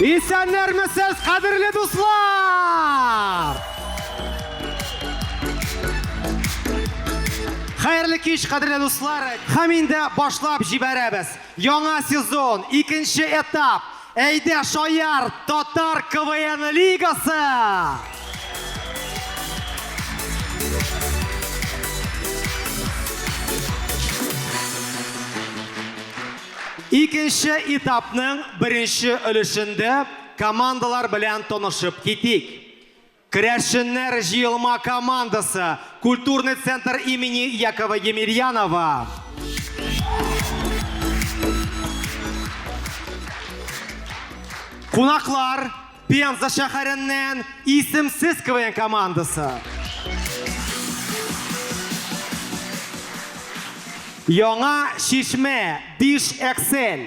Исәннәрмесез, кадерле дуслар! Хәерле кич, кадерле дуслар! Һәм инде башлап җибәрәбез. Яңа сезон, икенче этап. Әйдә, шаяр, татар КВН лигасы! Икенче этапның беренче өлешендә командалар белән танышып китик. Керәшеннәр җыелма командасы, Культурный центр имени Якова Емельянова. Кунаклар, Пенза шәһәреннән Исемсез КВН командасы. Яңа Чишмә, Биш Эксель.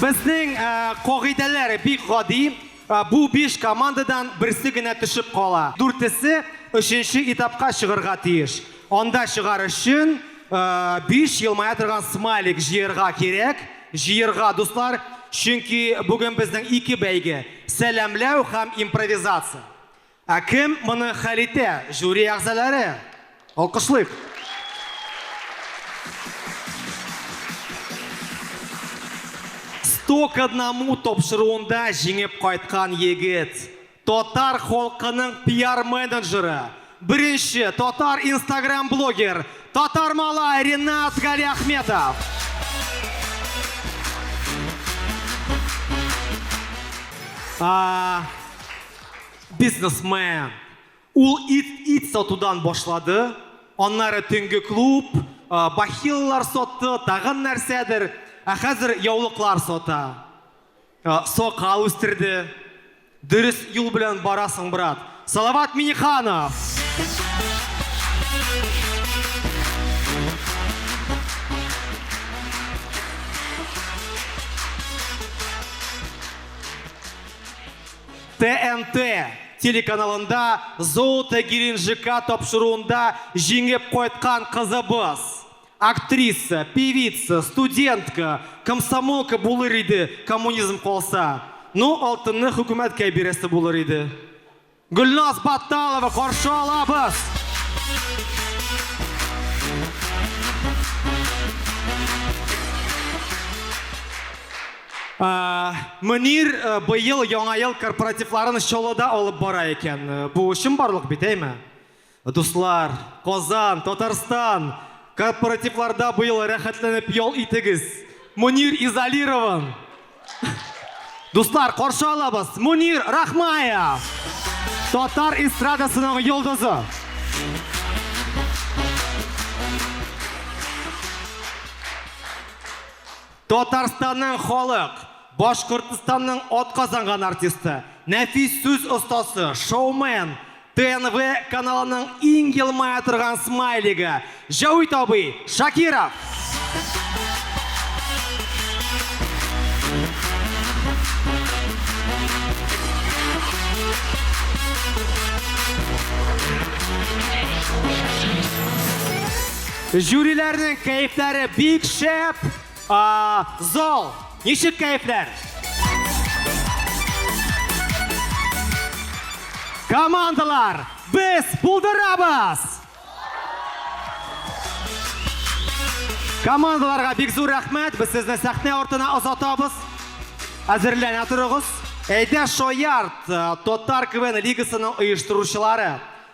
Безнең кагыйдәләр бик гади. Бу биш командадан берсе генә төшеп кала. Дүртесе өченче этапка чыгарга тиеш. Анда чыгар өчен биш елмая торган смайлик җыярга кирәк. Җыярга, дуслар, чөнки бүген безнең ике бәйге, сәламләү һәм импровизация. Ә кем моны хәл итә? Жюри әгъзалары! Алкышлыйк! Сто к одному тапшыруында җиңеп кайткан егет, татар халкының пиар-менеджеры, беренче татар инстаграм-блогер, Татармалай Ринат Галиәхметов! бизнесмен. Ул ит, ит сатудан башлады, аннары төнге клуб, бахилалар сатты, тагын нәрсәдер, ә хәзер яулыклар сата. Сакал үстерде. Дөрес юл белән барасың, брат. Салават Миниханов! ТНТ телеканалында Золото Геленджика тапшыруында җиңеп кайткан кызыбыз! Актриса, певица, студентка, комсомолка булыр иде, коммунизм калса. Ну, алтынны хөкүмәткә бирәсе булыр иде. Гөлназ Батталова каршы алабыз! Мөнир быел Яңа ел корпоративларын Чаллыда алып бара икән. Бу чынбарлык бит, әйме? Дуслар, Казан, Татарстан, корпоративларда быел рәхәтләнеп ял итегез! Мөнир изолирован! Дуслар, каршы алабыз, Мөнир Рахмаев! Татар эстрадасының йолдызы! Татарстанның халык, Башкортстанның атказанган артисты, нәфис сүз остасы, шоумен, ТНВ каналының иң елмая торган смайлигы, Җәвит абый Шакиров! Жюриләрнең кәефләре бик шәп! Зал, ничек кәефләр? Командалар, без булдырабыз! Командаларга бик зур рәхмәт, без сезне сәхнә артына озатабыз. Әзерләнә торыгыз. Әйдә, шаярт, Татар КВН лигасының оештыручылары!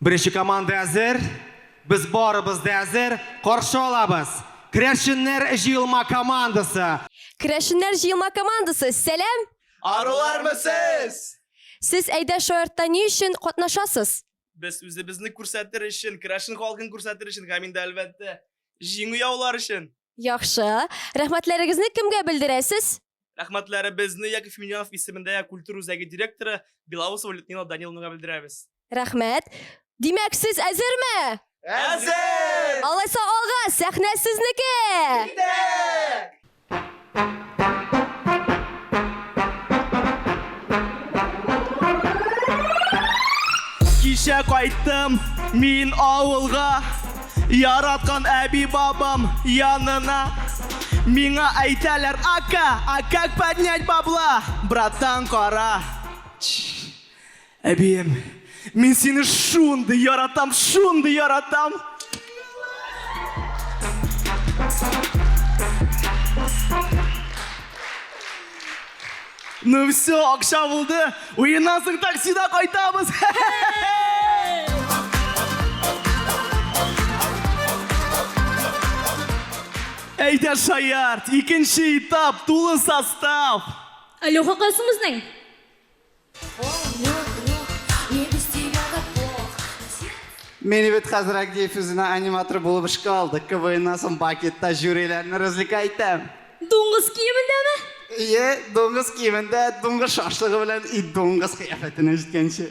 Беренче команда әзер. Без барыбыз да әзер. Каршы алабыз. Керәшеннәр җыелма командасы. Керәшеннәр җыелма командасы, сәлам! Арулармы сез? Сез Әйдә шаяртта ни өчен катнашасыз? Без үзебезне күрсәтер өчен, керәшен халкын күрсәтер өчен һәм инде әлбәттә, җиңү яулар өчен. Яхшы. Рәхмәтләрегезне кемгә белдерәсез? Рәхмәтләребезне Яков Минянов исемендә культура үзәге директоры Белоусова Людмила Даниловнага белдерәбез. Рәхмәт. Димәк, сез әзерме? Әзер! Алайса алга, сәхнә сезнеке! Китәк! Кичә кайттым мин авылга, яраткан әби-бабам янына. Миңа әйтәләр, ака, а как поднять бабла, братан, кара. Әбием, мин сине шундый яратам, шундый яратам! Ну все, акша булды. Уеннан соң таксида кайтабыз. Әйдә шаярт, икенче этап, тулы состав. Алло, хакасымыз нәй? Минибет хәзер Агиев үзенә аниматор булып эшкә алды. КВНнан соң Бакетта жюриләрне развлекай итәм. Дуңгыз киемендәме? Ие, дуңгыз киемендә, дуңгыз шашлыгы белән и дуңгыз кыяфәтенә җиткәнче.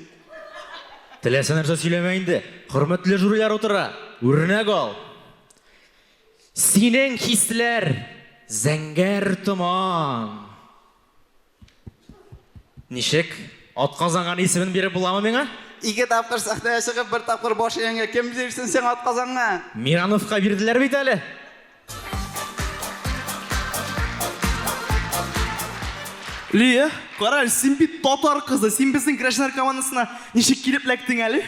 Теләсә нәрсә сөйләмә инде. Хөрмәтле жюрилар утыра. Үрнәк ал. Синең хисләр, зәңгәр томан. Ничек? Атказанган исемен биреп буламы миңа? Ике тапкыр сәхнәгә чыгып, бер тапкыр баш игәнгә кем бирсен сиңа атказанган? Мирановка бирделәр бит әле. Лия, кара әле, син бит татар кызы, син безнең гражданнар командасына ничек килеп эләктең әле?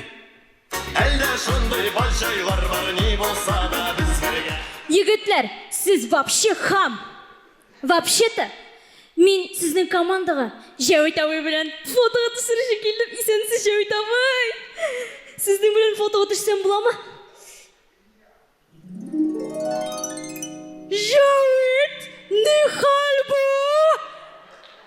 Әллә шундый бар җайлар бар, ни булса да без бергә. Егетләр, сез вообще хам! Вообще-то, мин сезнең командага Җәвит абый белән фотога төсерүче килдем, исәнмесез, Җәвит абый! Сезнең белән фотога төшсәм буламы? Җәвит, нихәл бу?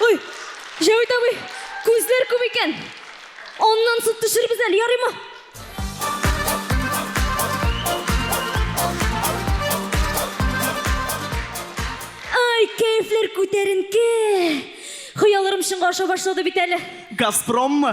Ой, Җәвит абый, күзләр күп икән. Аннан сут төшербез әле, ярыймы? Ай, кәефләр күтәренке. Хыялларым чынга аша башлады бит әле. Газпроммы?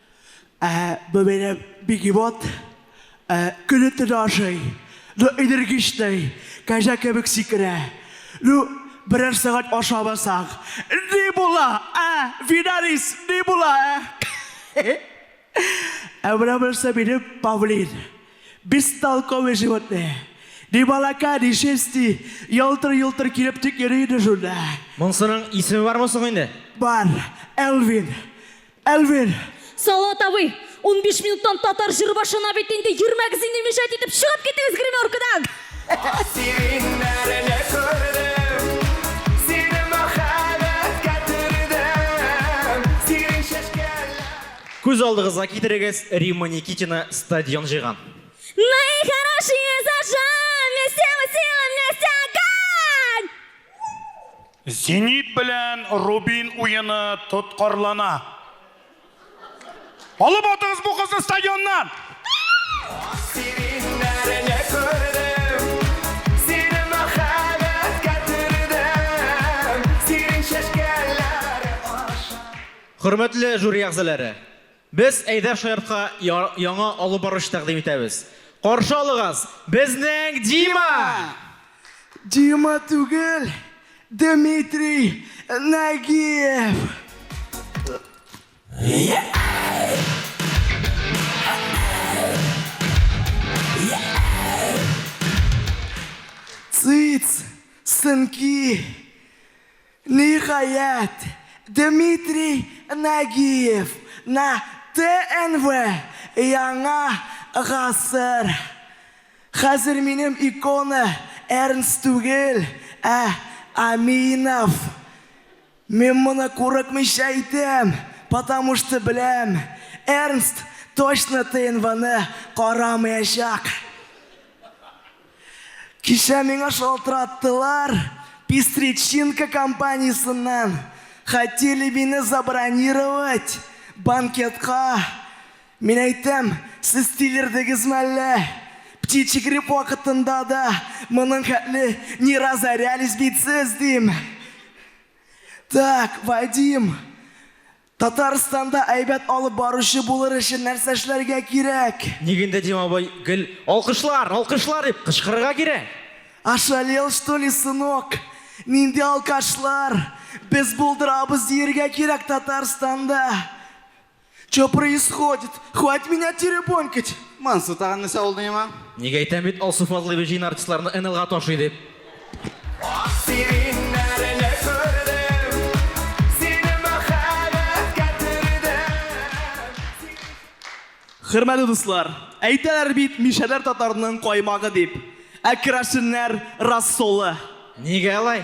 Ә бу минем бигемот. Ә көне-төне ашый. Ну, энергичный, кәҗә кебек сикерә. Ну, берәр сәгать ашамасаң, ни була, ә, Винарис, ни була, ә? Ә менә монысы минем павлин. Бестолковый животное. Ни балака, ни шерсти, ялтыр-йолтыр килеп тик йөри иде шунда. Монсының исеме бармы соң инде? Бар, Элвин. Әлвир! Салават абый! Унбиш минуттан татар җыры башлана бит инде, йөрмәгез инде мешать итеп, чыгып китегез гримеркадан! Асиримнәрне күрдем, сине мәхәббәткә төрдем, синең чәчкәләр. Күз алдыгызга китерегез, Римма Никитина стадион җыйган. Мои хорошие зажжем, вместе мы силы, вместе огонь! Зенит белән Рубин уены тоткарлана. Алып атыгыз бу кызны стадионнан! Хөрмәтле жюри әгъзалары! Без Әйдәр Шаяртка яңа алып баручы тәкъдим итәбез. Каршы алыгыз, безнең Дима! Дима түгел, Дмитрий Нагиев! Цыц, сынки! Ниһаять, Дмитрий Нагиев на ТНВ Яңа гасыр Хәзер минем икона Эрнст түгел, ә Аминов. Мин моны курыкмыйча әйтәм, потому что беләм, Эрнст точно ТНВны карамыячак. Кичә миңа шалтыраттылар Пестричинка компаниясеннән, хотели мине забронировать банкетка. Мин әйтәм, сез тилердегезме әллә? Птичий грипп вакытында да моның хәтле не разорялись бит сез, дим. Так, Вадим, Татарстанда әйбәт алып баручы булыр өчен нәрсә эшләргә кирәк? Ник инде Дим абый гел Алкышлар! Алкышлар! дип кычкырырга кирәк? Ошалел что ли сынок? Нинди алкашлар? Без булдырабыз диергә кирәк Татарстанда! Чо происходит? Хвать меня теребонькать! Мансу тагын нәрсә булды миңа? Ник әйтәм бит Алсу Фазлыева җыен артистларны НЛга ташый дип? Хөрмәтле дуслар, әйтәләр бит, мишәләр татарның каймагы дип. Ә керәшеннәр рассолы. Нигә алай?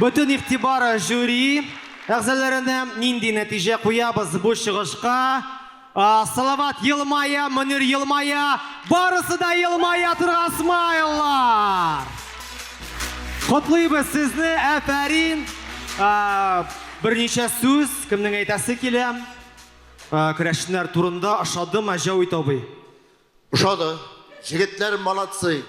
Бөтен игътибар жюри әгъзаларына, нинди нәтиҗә куябыз бу чыгышка? Салават елмая, Мөнир елмая, барысы да елмая торган смайллар! Котлыйбыз сезне, әфәрин! Берничә сүз, кемнең әйтәсе килә? Керәшеннәр турында ошадымы, Җәвит абый? Ошады. Җегетләр молодцы.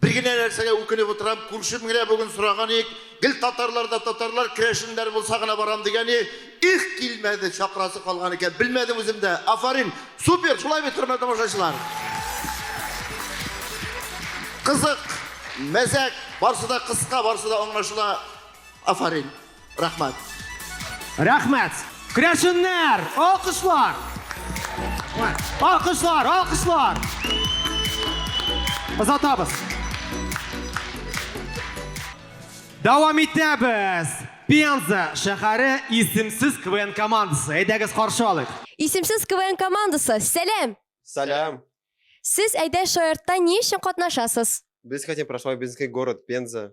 Бер генә нәрсәгә үкенеп утырам, күршем генә бүген сораган ик, гел татарлар да татарлар, керәшеннәр булса гына барам дигәне, их, килмәде, чакырасы калган икән, белмәдем үзем дә. Афарин, супер, шулай бит, хөрмәтле тамашачылар. Кызык, мәзәк, барсы да кыска, барсы да аңлашыла. Афарин. Рәхмәт! Рәхмәт! Крәшеннәр! Алкышлар! Алкышлар! Алкышлар! Озатабыз! Дәвам итәбез! Пенза шәһәре исемсез КВН командасы. Әйдәгез каршы алыйк! Исемсез КВН командасы, сәлам! Сәлам! Сез Әйдә шаяртта ни өчен катнашасыз? Без хотим прошлой Бенский город, Пенза.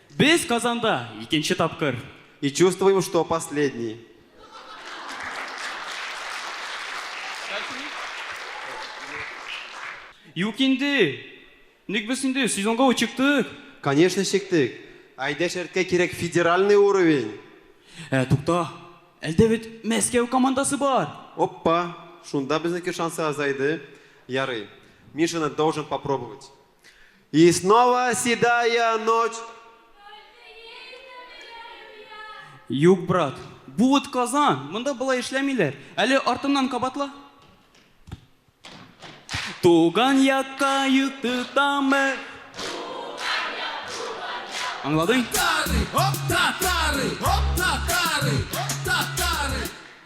Без Казанда икенче тапкыр. И чувствуем, что последний. Юк инде! Ник без инде сезонга ук чыктык! Конечно чиктек! Әйдә шәрткә кирәк федеральный уровень! Ә, тукта, әлдә бит Мәскәү командасы бар! Оппа! Шунда безнеке шансы азайды. Ярый. Мин шуны должен попробовать. И снова седая ночь. Юк, брат. Бу вот Казан. Монда болай эшләмиләр. Әле артымнан кабатла. Туган якка йөк тотамы? Аңладың?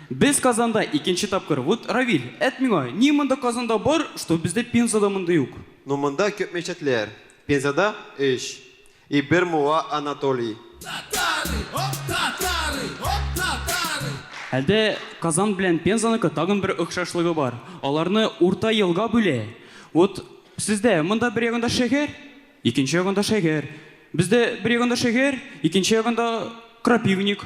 Без Казанда икенче тапкыр. Вот Равиль, әт миңа, ни монда Казанда бар, что бездә Пензада монда юк? Ну монда күп мечетләр. Пензада, өч. И бер муа Анатолий. Татары, оп, татары, оп, татары. Әлдә Казан белән Пензаныкы тагын бер охшашлыгы бар, аларны урта елга бүлә. Вот сездә монда бер ягында шәһәр, икенче ягында шәһәр. Бездә бер ягында шәһәр, икенче ягында крапивник.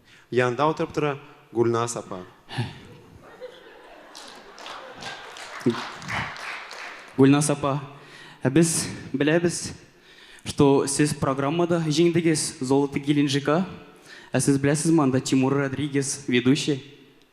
Янында утырып тора Гульназ апа. Гульназ апа, ә без беләбез, что сез программада җиңдегез, Золото Геленджика. Ә сез беләсезме, анда Тимур Родригес, ведущий.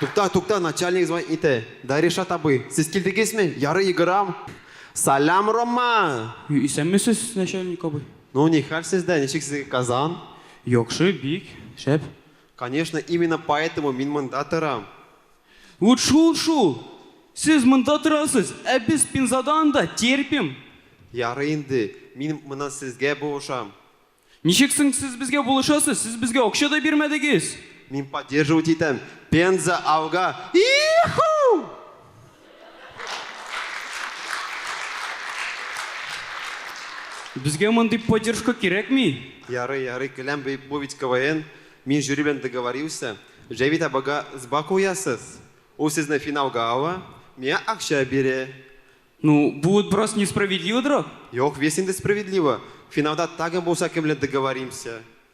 Тукта, тукта, начальник звонит ите. Да решат абый, сез килдегезме? Яры егырам. Салам, Рома! Исәнмесез, начальник абый. Ну, нихәл сездә, ничек сезгә Казан? Яхшы, бик шәп. Конечно, именно поэтому мин монда торам. Вот шул шул! Сез монда торасыз, ә без Пензада анда терпим. Ярый инде, мин монан сезгә булышам. Ничек соң сез безгә булышасыз, сез безгә акча да бирмәдегез? Мин поддерживать итәм, Пенза алга! И-ху! Безгә мондый поддержка кирәкми. Ярый, ярый, көләм, бу бит КВН, мин жюри белән договорился. Җәвит абыйга сба куясыз, ул сезне финалга ала, миңа акча бирә. Ну, бу вот бераз несправедливодрак. Юк, весь инде справедливо. Финалда тагын булса кем белән договоримся.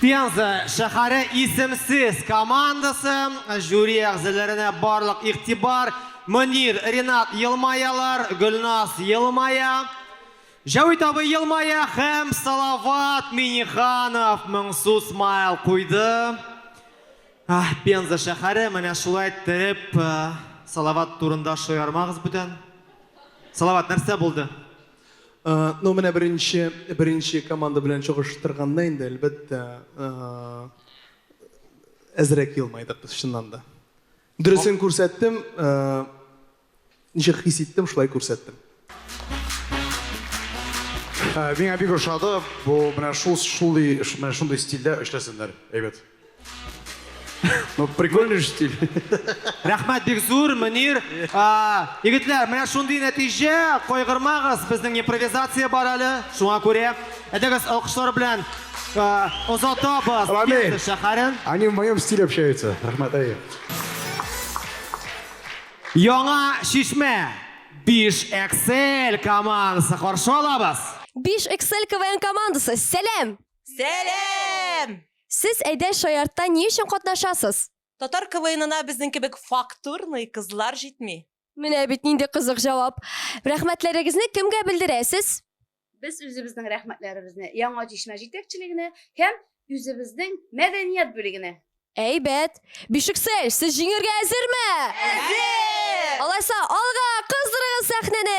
Пенза шәһәре Исемсез командасы жюри әгъзаләренә барлык игътибар, Мөнир, Ринат елмаялар, Гөлназ елмая, Җәвит абый елмая һәм Салават Миннеханов моңсу смайл куйды. Аһ, Пенза шәһәре, менә шулай тереп Салават турында шаярмагыз бүтән. Салават, нәрсә булды? Ну, менә беренче, беренче команда белән чагыштырганда инде, әлбәттә, әзрәк елмайдык без чыннан да. Дөресен күрсәттем, ничек хис иттем, шулай күрсәттем. Миңа бик ошады, бу менә шул, шундый, менә шундый стильдә эшләсеннәр, әйбәт. Ну, прикольный же стиль. Рәхмәт бик зур, Мөнир. Егетләр, менә шундый нәтиҗә, кайгырмагыз, безнең импровизация бар әле, шуңа күрә. Әйдәгез, алкышлар белән озатабыз Пенза шәһәрен. Они в моем стиле общаются. Рәхмәт, әйе. Яңа Шишмә 5 Excel командасы каршы алабыз. 5 Excel КВН командасы, сәлам! Сәлам! Сез Әйдә шаяртта ни өчен катнашасыз? Татар КВНына безнең кебек фактурный кызлар җитми. Менә бит нинди кызык җавап. Рәхмәтләрегезне кемгә белдерәсез? Без үзебезнең рәхмәтләребезне Яңа Чишмә җитәкчелегенә һәм үзебезнең мәдәният бүлегенә. Әйбәт! Бишексәй, сез җиңергә әзерме? Әзер! Алайса, алга, кыздырыгыз сәхнәне!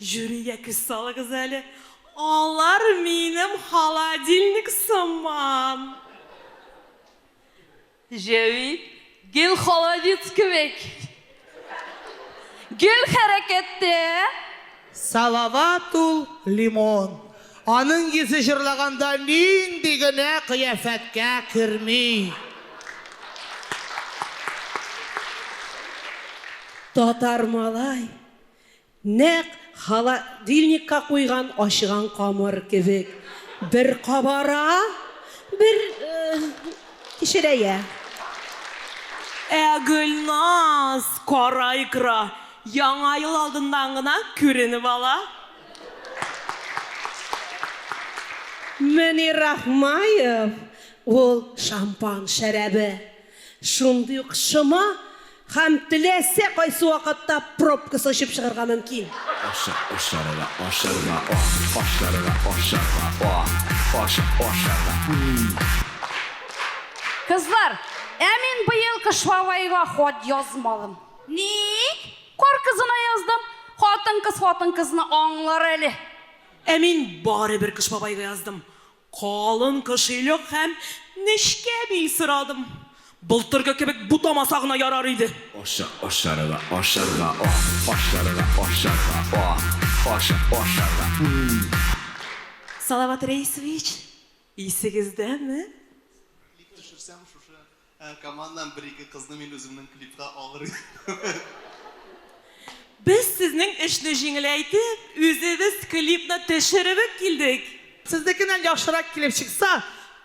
Жюригә күз салыгыз әле, алар минем холодильник сыман. Җәви, гел холодец кебек. Гел хәрәкәттә. Салават ул, лимон. Аның йөзе җырлаганда нинди генә кыяфәткә керми. Татар малай, Нәкъ холодильникка куйган ачыган камыр кебек, бер кабара, бер кечерәя. Ә Гөлназ, кара икра, Яңа ел алдыннан гына күренеп ала. Мөнир Рахмаев, ул шампан шәрабе, Шундый ук шома һәм теләсә кайсы вакытта пробкасы очып чыгарга мөмкин. Ашык, ашарга, ашарга, о, ашарга, ашарга, о, ашык, ашарга, м. Кызлар, ә мин быел Кыш Бабайга хат язмадым. Ник? Кар кызына яздым. Хатын-кыз хатын-кызны аңлар әле. Ә мин барыбер Кыш Бабайга яздым. Калын кошелек һәм нечкә бил сорадым. Былтыргы кебек бутамаса гына ярар иде. Ашык, ашарга, ашарга, о! Ашарга, ашарга, о! Ашык, ашарга, м-м-м! Салават Рәисович, исегездәме? Клип төшерсәм, шушы Ә команнан бер-ике кызны мин үземнең клипка алыр идем. Без сезнең эшне җиңеләйтеп, үзебез клипны төшеребеп килдек. Сезнекеннән яхшырак килеп чыкса,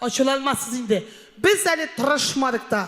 ачуланмасыз инде. Без әле тырышмадык та.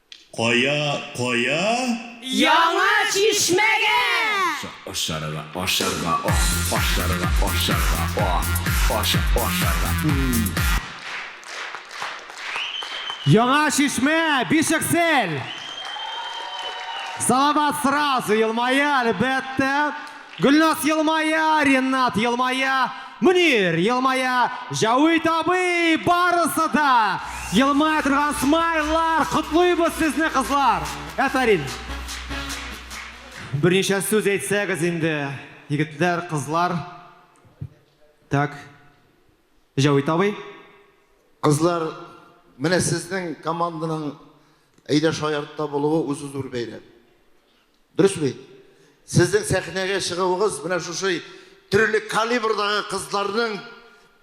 Кая, кая? Яңа Чишмәгә! Ашарга, ашарга, ох! Ашарга, ашарга, ох! Аша, ашарга, м-м! Яңа Чишмә, Бишексел! Салават сразу елмая, әлбәттә. Гөлназ елмая, Ренат елмая, Мөнир елмая, Җәвит абый, барысы да елмая торган смайллар! Котлыйбыз сезне, кызлар! Әфәрин! Берничә сүз әйтсәгез инде, егетләр, кызлар. Так. Җәвит абый. Кызлар, менә сезнең команданың әйдә шаяртта булуы үзе зур бәйрәм. Дөрес бит? Сезнең сәхнәгә чыгуыгыз менә шушы төрле калибрдагы кызларның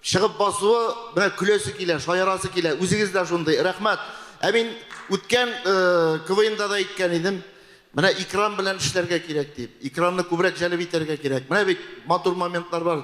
чыгып басуы менә көләсе килә, шаярасы килә. Үзегез дә шундый. Рәхмәт. Ә мин үткән э, КВНда да әйткән идем. Менә экран белән эшләргә кирәк дип. Экранны күбрәк җәлеп итәргә кирәк. Менә бит матур моментлар бар.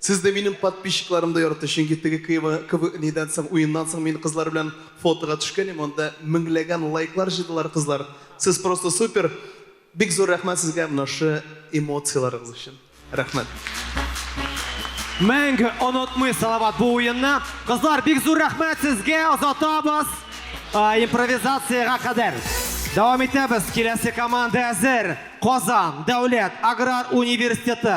Сез дә минем подписчикларым да ярата, чөнки теге кыва кыв нидән соң, уеннан соң мин кызлар белән фотога төшкәнем, анда меңләгән лайклар җыйдылар кызлар. Сез просто супер! Бик зур рәхмәт сезгә менә шы эмоцияларыгыз өчен. Рәхмәт! Мәңге онытмый Салават бу уенны. Кызлар, бик зур рәхмәт сезгә, озатабыз импровизациягә кадәр. Дәвам итәбез, киләсе команда әзер, Казан дәүләт аграр университеты,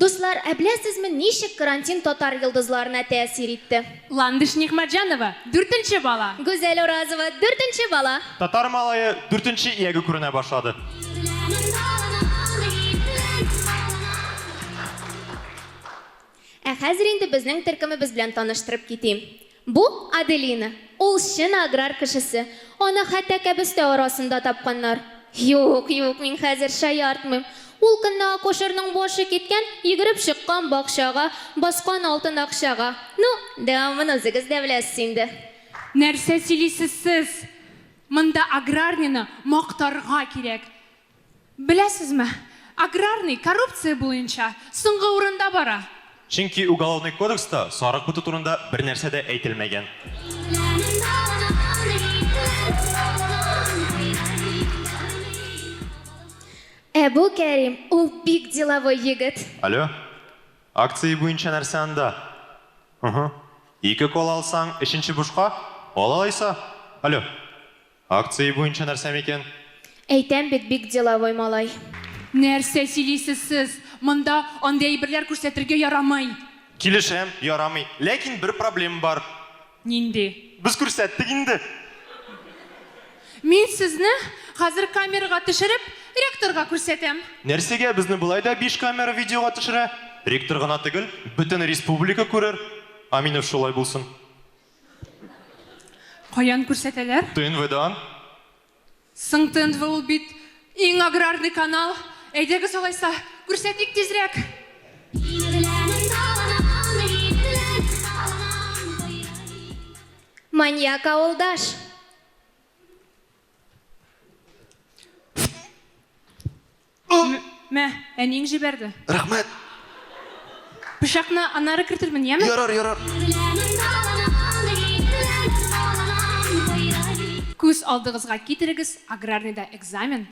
Дуслар, ә беләсезме, ничек карантин татар йолдызларына тәэсир итте? Ландыш Нигъмәтҗанова, дүртенче бала. Гүзәл Уразова, дүртенче бала. Татар малае дүртенче ияге күренә башлады. Ә хәзер инде безнең төркемебез белән таныштырып китим. Бу, Аделина. Ул чын аграр кешесе. Аны хәтта кәбестә арасында тапканнар. Юк, юк, мин хәзер шаяртмыйм. Ул көнне акушерның башы киткән, йөгереп чыккан бакчага, баскан алтын акчага. Ну, дәвамын үзегез дә беләсез инде. Нәрсә сөйлисез сез? Монда аграрнены мактарга кирәк. Беләсезме, аграрный коррупция буенча соңгы урында бара. Чөнки Уголовный кодекста сарык буту турында бернәрсә дә әйтелмәгән. Ә бу Кәрим, ул бик деловой егет. Аллё, акция буенча нәрсә анда? Ыхы, ике кола алсаң, өченче бушка, ал алайса. Аллё. Акция буенча нәрсә микән? Әйтәм бит, бик деловой малай. Нәрсә сөйлисез сез? Монда андый әйберләр күрсәтергә ярамый! Килешәм, ярамый. Ләкин бер проблема бар. Нинди? Без күрсәттек инде! Мин сезне хәзер камерага төшереп, ректорга күрсәтәм. Нәрсәгә безне болай да биш камера видеога төшерә? Ректор гына төгел, бөтен республика күрер. Аминов шулай булсын. Каян күрсәтәләр? ТНВдан. Соң ТНВ ул бит иң аграрный канал. Әйдәгез алайса, күрсәтик тизрәк! Маньяк авылдаш! М мә, әниең җибәрде. Рәхмәт. Пычакны аннары кертермен, яме? Ярар, ярар. Күз алдыгызга китерегез, аграрныйда экзамен.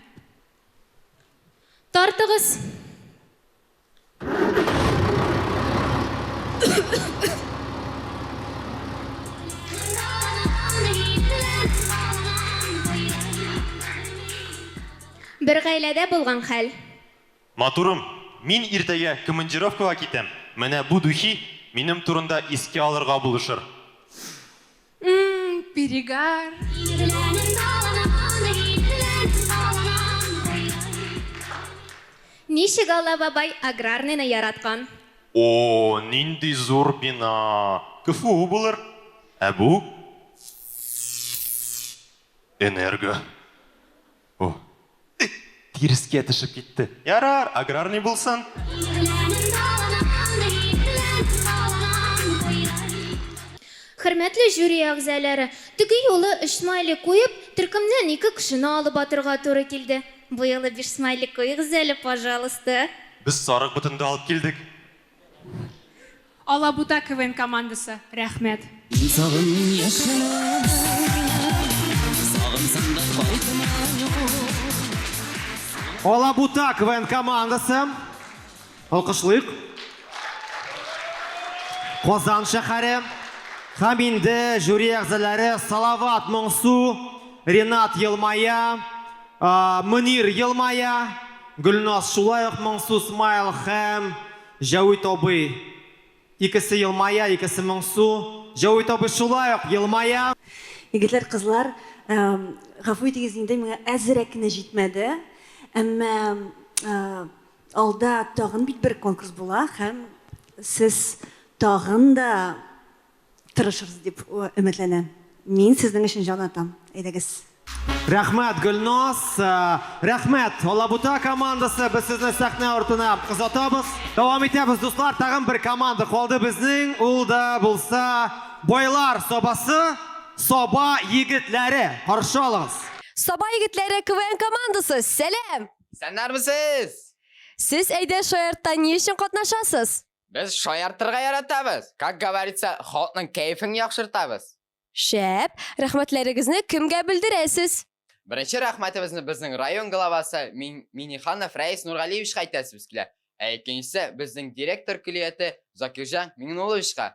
Тартыгыз. Бер гаиләдә булган хәл. Матурым, мин иртәгә командировкага китәм, менә бу духи минем турында искә алырга булышыр. Перегар. Ничек Алла бабай аграрныйны яраткан? О, нинди зур бина! КФУ булыр. Ә бу? Энерго. О, эх, тирескә төшеп китте. Ярар, аграрный булсын. Хөрмәтле жюри әгъзалары, теге юлы өч смайлик куеп, төркемнән ике кешене алып атырга туры килде. Бу юлы биш смайлик куегыз әле, пожалуйста. Без сарык ботын да алып килдек. Алабута КВН командасы, рәхмәт! Мин сагын яшел Сагынсаң да кайтма Алабута КВН командасы, алкышлыйк! Казан шәхәре һәм инде жюри әгъзаләре Салават Моңсу, Ренат елмая, Мөнир елмая, Гөлназ шулай ук моңсу смайл һәм Җәвит абый икесе елмая, икесе моңсу, Җәвит абый шулай ук елмая. Егетләр, кызлар, гафу итегез инде, миңа әзерәк кенә җитмәде, әмма алда тагын бит бер конкурс була һәм сез тагын да Тырышырыз дип өметләнәм. Мин сезнең өчен җан атам. Әйдәгез. Рәхмәт, Гөлназ! Рәхмәт, Алабута командасы! Без сезне сәхнә артына озатабыз. Дәвам итәбез, дуслар! Тагын бер команда калды безнең, ул да булса Байлар Сабасы, Саба егетләре! Каршы алыгыз! Саба егетләре КВН командасы, сәлам! Исәннәрмесез! Сез Әйдә шаяртта ни өчен катнашасыз? Без шаяртырга яратабыз. Как говорится, халыкның кәефен яхшыртабыз. Шәп, рәхмәтләрегезне кемгә белдерәсез? Беренче рәхмәтебезне безнең район главасы Мин Миниханов Рәис Нургалиевичка әйтәсебез килә. Ә икенчесе безнең директор көллияте Закирҗан Миңнулловичка.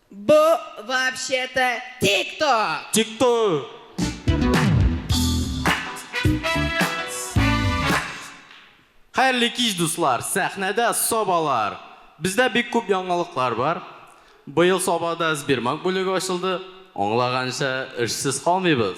Бу вообще-то тик-ток! Тик-ток! Хәерле кич дуслар! Сәхнәдә Сабалар! Бездә бик күп яңалыклар бар. Быел Сабада Сбермаг бүлеге ачылды. Аңлаганча, эшсез калмыйбыз.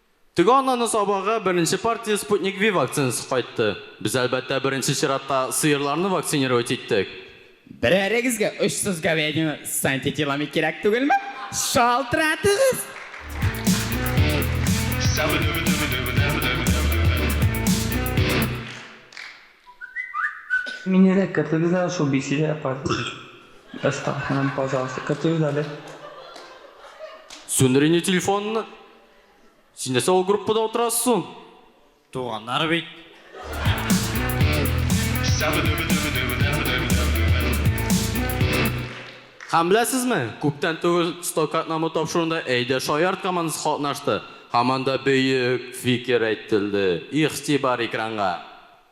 Теге ананы сабарга беренче партия Sputnik V вакцинасы кайтты. Без, әлбәттә, беренче чиратта сыерларны вакцинировать иттек. Берәрегезгә очсыз говядина с антителами кирәк түгелме? Шалтыратыгыз! Мине дә кертегез әле шул бесилие партиясенә. Астаховнаны, пожалуйста, кертегез әле. Сүндер инде телефонны. Син нәрсә ул группада утырасыз соң? Туганнар бит. Һәм беләсезме, күптән түгел Стокатнамы тапшыруында Әйдә шаярт командасы катнашты. Һаман да бөек фикер әйтелде. Игътибар экранга.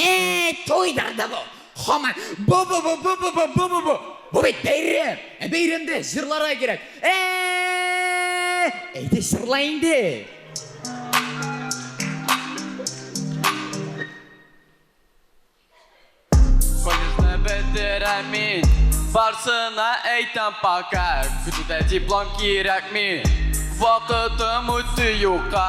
Әй, туйдыр да бу! Хаман, бу-бу-бу-бу-бу-бу-бу-бу-бу! Бу бит бәйрәм! Ә бәйрәмдә җырларга кирәк! Әй! Әйдә, җырла инде! Колледжны бетерәми, барсына әйтәм пока, көтүдә диплом кирәкми, вакытым үтте юкка.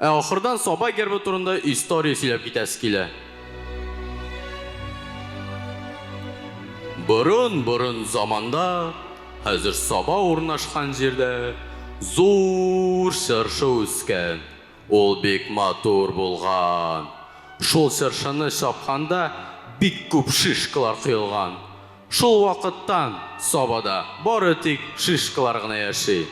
Ә ахырдан Саба гербы турында история сөйләп китәсе килә. Борын-борын заманда, хәзер Саба урнашкан җирдә зур чыршы үскән. Ул бик матур булган. Шул чыршыны чапканда бик күп шишкалар коелган. Шул вакыттан Сабада бары тик шишкалар гына яши.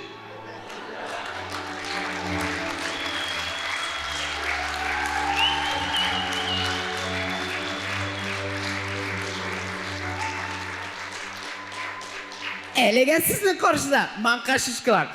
Әлегә сезнең каршыда маңка шишкалар.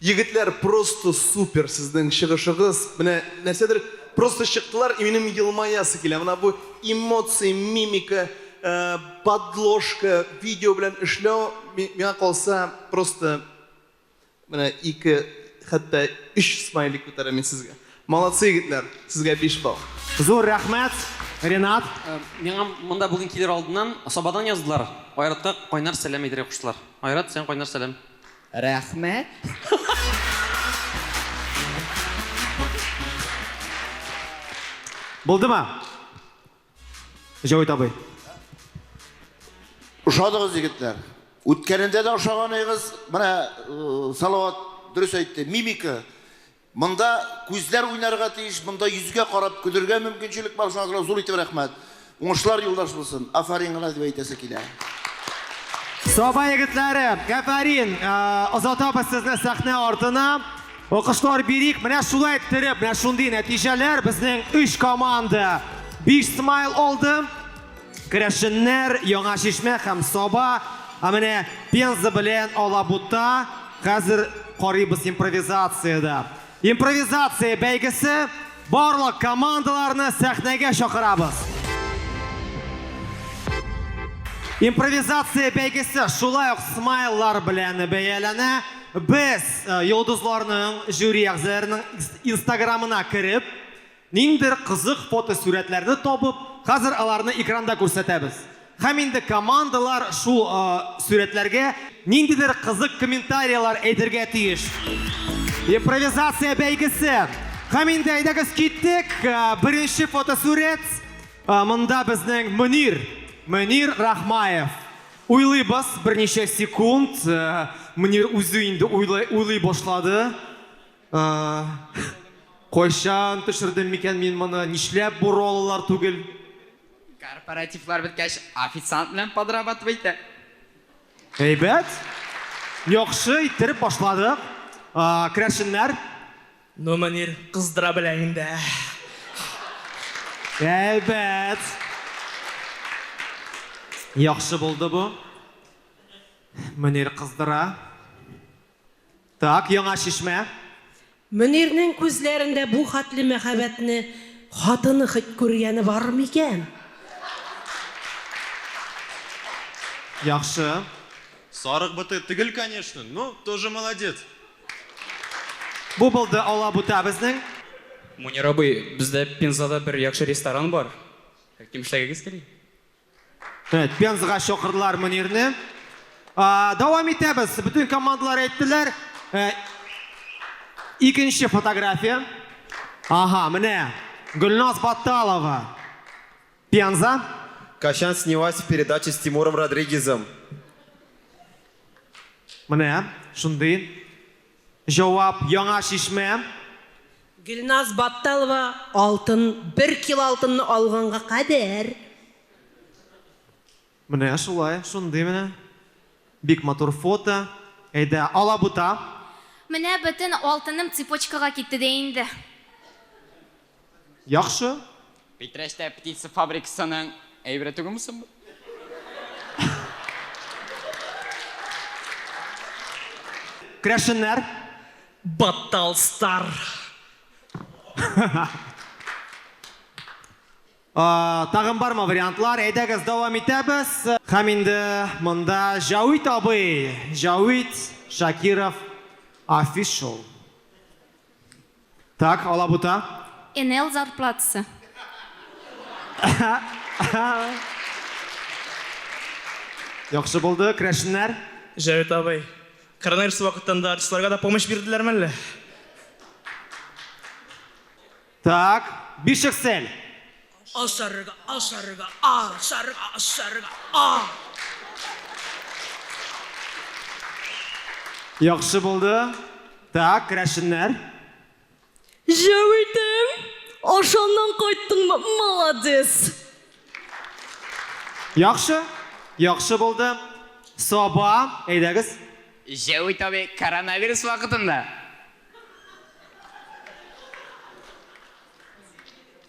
Егетләр просто супер сезнең чыгышыгыз, менә нәрсәдер просто чыктылар и минем елмаясы килә, менә бу эмоции, мимика, подложка, видео белән эшләү миңа калса просто менә ике хәтта өч смайлик күтәрәм мин сезгә. Молодцы егетләр, сезгә биш балл. Зур рәхмәт, Ренат. Миңа монда бүген килер алдыннан Сабадан яздылар, Айратка кайнар сәлам әйтергә куштылар. Айрат, сиңа кайнар сәлам. Рәхмәт! Булдымы? Җәвит абый. Ошадыгыз егетләр. Үткәнендә дә ошаганыгыз, менә Салават дөрес әйтте, мимика Монда күзләр уйнарга тиеш, монда йөзгә карап көлергә мөмкинчелек бар, шуңа күрә зур итеп рәхмәт. Уңышлар юлдаш булсын. Афәрин гына дип әйтәсе килә. Саба егетләре, әфәрин! Озатабыз сезне сәхнә артына. Алкышлар бирик. Менә шулай иттереп, менә шундый нәтиҗәләр безнең өч команда биш смайл алды. Керәшеннәр, Яңа Чишмә һәм Саба, ә менә Пенза белән Алабута хәзер карыйбыз импровизациядә. Импровизация бәйгесе, барлык командаларны сәхнәгә чакырабыз. Импровизация бәйгесе шулай ук смайллар белән бәяләнә. Без йолдызларның, жюри әгъзаларының инстаграмына кереп, Ниндидер кызык фотосурәтләрне табып, хәзер аларны экранда күрсәтәбез. Һәм инде командалар шул сурәтләргә ниндидер кызык комментарияләр әйтергә тиеш. Импровизация бәйгесе! Һәм инде әйдәгез киттек! Беренче фотосурәт, монда безнең Мөнир, Мөнир Рахмаев. Уйлыйбыз берничә секунд, Мөнир үзе инде уйлый башлады. Кайчан төшердем микән мин моны? Нишләп бу роллар түгел? Корпоративлар беткәч, официант белән подрабатывай итә. Әйбәт! Яхшы иттереп башладык. Керәшеннәр? Ну, Мөнир кыздыра белә инде, ә. Әйбәт! Яхшы булды бу. Мөнир кыздыра. Так, Яңа Чишмә. Мөнирнең күзләрендә бу хәтле мәхәббәтне хатыны хет күргәне бар микән? Яхшы. Сарык быты төгел конечно, ну, тоже молодец. Бу булды алабута безнең. Мунир абый, бездә Пензада бер яхшы ресторан бар. Кем эшләгегез тели? Пензага чакырдылар Мөнирне. Дәвам итәбез. Бөтен командалар әйттеләр. Икенче фотография. Ага, менә Гөлназ Батталова. Пенза. Качан снялась в передаче с Тимуром Родригезом? Менә шундый Җавап, Яңа Чишмә. Гөлназ Батталова алтын, бер кило алтынны алганга кадәр. Менә шулай, шундый менә. Бик матур фото. Әйдә, алабута. Менә бөтен алтыным цепочкага китте дә инде. Яхшы. Питрәчтә птица фабрикасының әйбере түгелме соң бу? Крәшеннәр. Батталстар. Тагын бармы вариантлар? Әйдәгез, дәвам итәбез. Һәм инде монда Җәвит абый, Җәвит Шакиров Official. Так, алабута. Энел зарплатасы. Яхшы булды, крәшеннәр. Җәвит абый, коронавирус вакытында артистларга да помощь бирделәрме әллә? Так, бишексель. Ашарга, ашарга, ашарга, ашарга, а! Яхшы булды. Так, керәшеннәр. Җәү итем, ашаннан кайттыңмы, маладис! Яхшы, яхшы булды. Саба, әйдәгез. Җәү ит абый, коронавирус вакытында.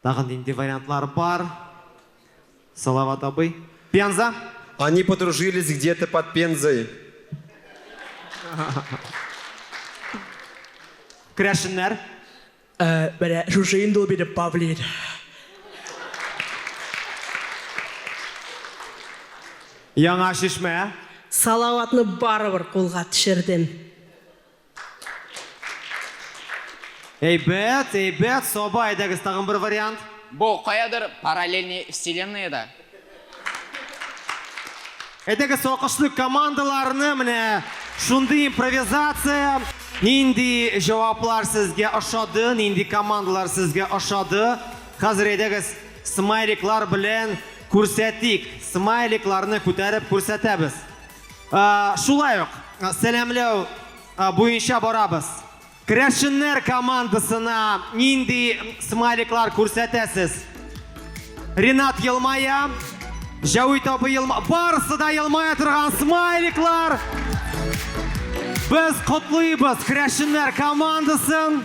Тагын нинди вариантлар бар, Салават абый? Пенза? Они подружились где-то под Пензой. Керәшеннәр? Ә, менә шушы инде ул минем павлин. Яңа Чишмә? Салаватны барыбер кулга төшердем. Әйбәт, әйбәт, Саба, әйдәгез тагын бер вариант. Бу каядыр параллельный вселенныеда. Әйдәгез алкышлыйк командаларны, менә шундый импровизация. Нинди җаваплар сезгә ошады, нинди командалар сезгә ошады? Хәзер әйдәгез смайликлар белән күрсәтик. Смайликларны күтәреп күрсәтәбез. Шулай ук сәламләү буенча барабыз. Керәшеннәр командасына нинди смайликлар күрсәтәсез? Ренат елмая, Җәвит абый елмая. Барысы да елмая торган смайликлар. Без котлыйбыз керәшеннәр командасын.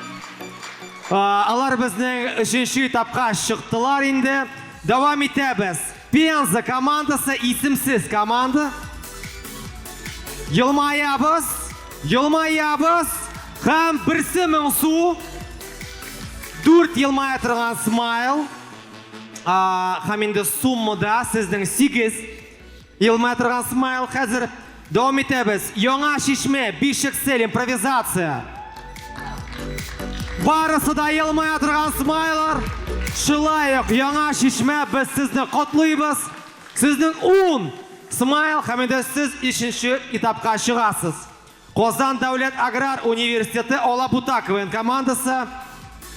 Алар безнең өченче этапка чыктылар инде. Дәвам итәбез. Пенза командасы исемсез команда. Елмаябыз, елмаябыз һәм берсе моңсу. Дүрт елмая торган смайл. Һәм инде суммада сезнең сигез елмая торган смайл хәзер Дәвам итәбез. Яңа Чишмә, Бишексель, импровизация. Барысы да елмая торган смайлар. Шулай ук Яңа Чишмә, без сезне котлыйбыз. Сезнең 10 смайл һәм инде сез өченче этапка чыгасыз. Казан дәүләт аграр университеты Алабута КВН командасы.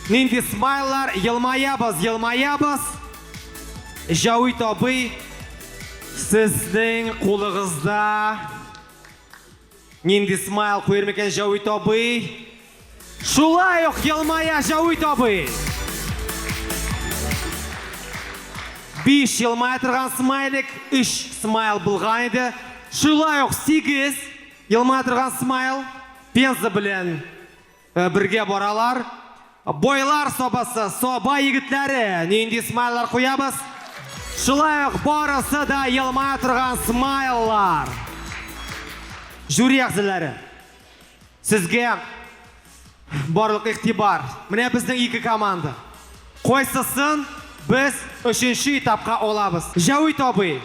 Нинди смайлар, елмаябыз, елмаябыз. Җәвит абый, сезнең кулыгызда нинди смайл куер микән Җәвит абый? Шулай ук елмая Җәвит абый. Биш елмая торган смайлик, үч смайл булган иде. Шулай ук сигез елмая торган смайл пенза белән Бергә баралар. Байлар сабасы, саба егетләре, нинди смайлар куябыз? Шулай ук барысы да елмая торган смайллар. Жюри әгъзалары, сезгә барлык игътибар. Менә безнең ике команда. Кайсысын без өченче этапка алабыз? Җәвит абый,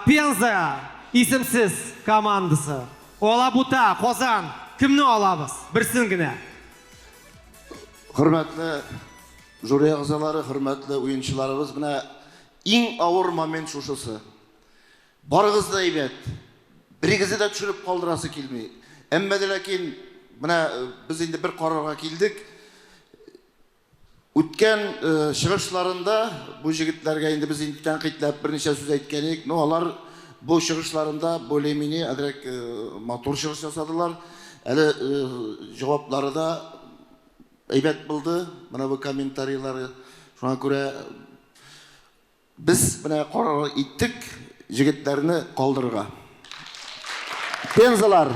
Пенза исемсез командасы. Алабута, Казан, кемне алабыз? Берсен генә. Хөрмәтле жюри әгъзалары, хөрмәтле уенчыларыбыз, менә иң авыр момент шушысы. Барыгыз да әйбәт, берегезне дә төшереп калдырасы килми. Әмма дә ләкин менә без инде бер карарга килдек. Үткән чыгышларында бу җегетләргә инде без инде тәнкыйтьләп берничә сүз әйткән идек, но алар бу чыгышларында более-менее әзрәк матур чыгыш ясадылар. Әле җаваплары да әйбәт булды, менә бу комментарийлары. Шуңа күрә Без менә карар иттек җегетләрне калдырырга. Пензалар.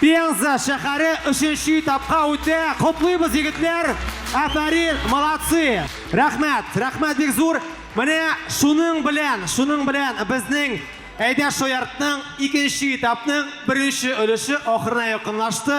Пенза шәхәре өченче этапка үтә! Котлыйбыз, егетләр! Афәрин! Молодцы! Рәхмәт! Рәхмәт бик зур! Менә шуның белән, шуның белән безнең Әйдә шаяртның икенче этапның беренче өлеше ахырына якынлашты.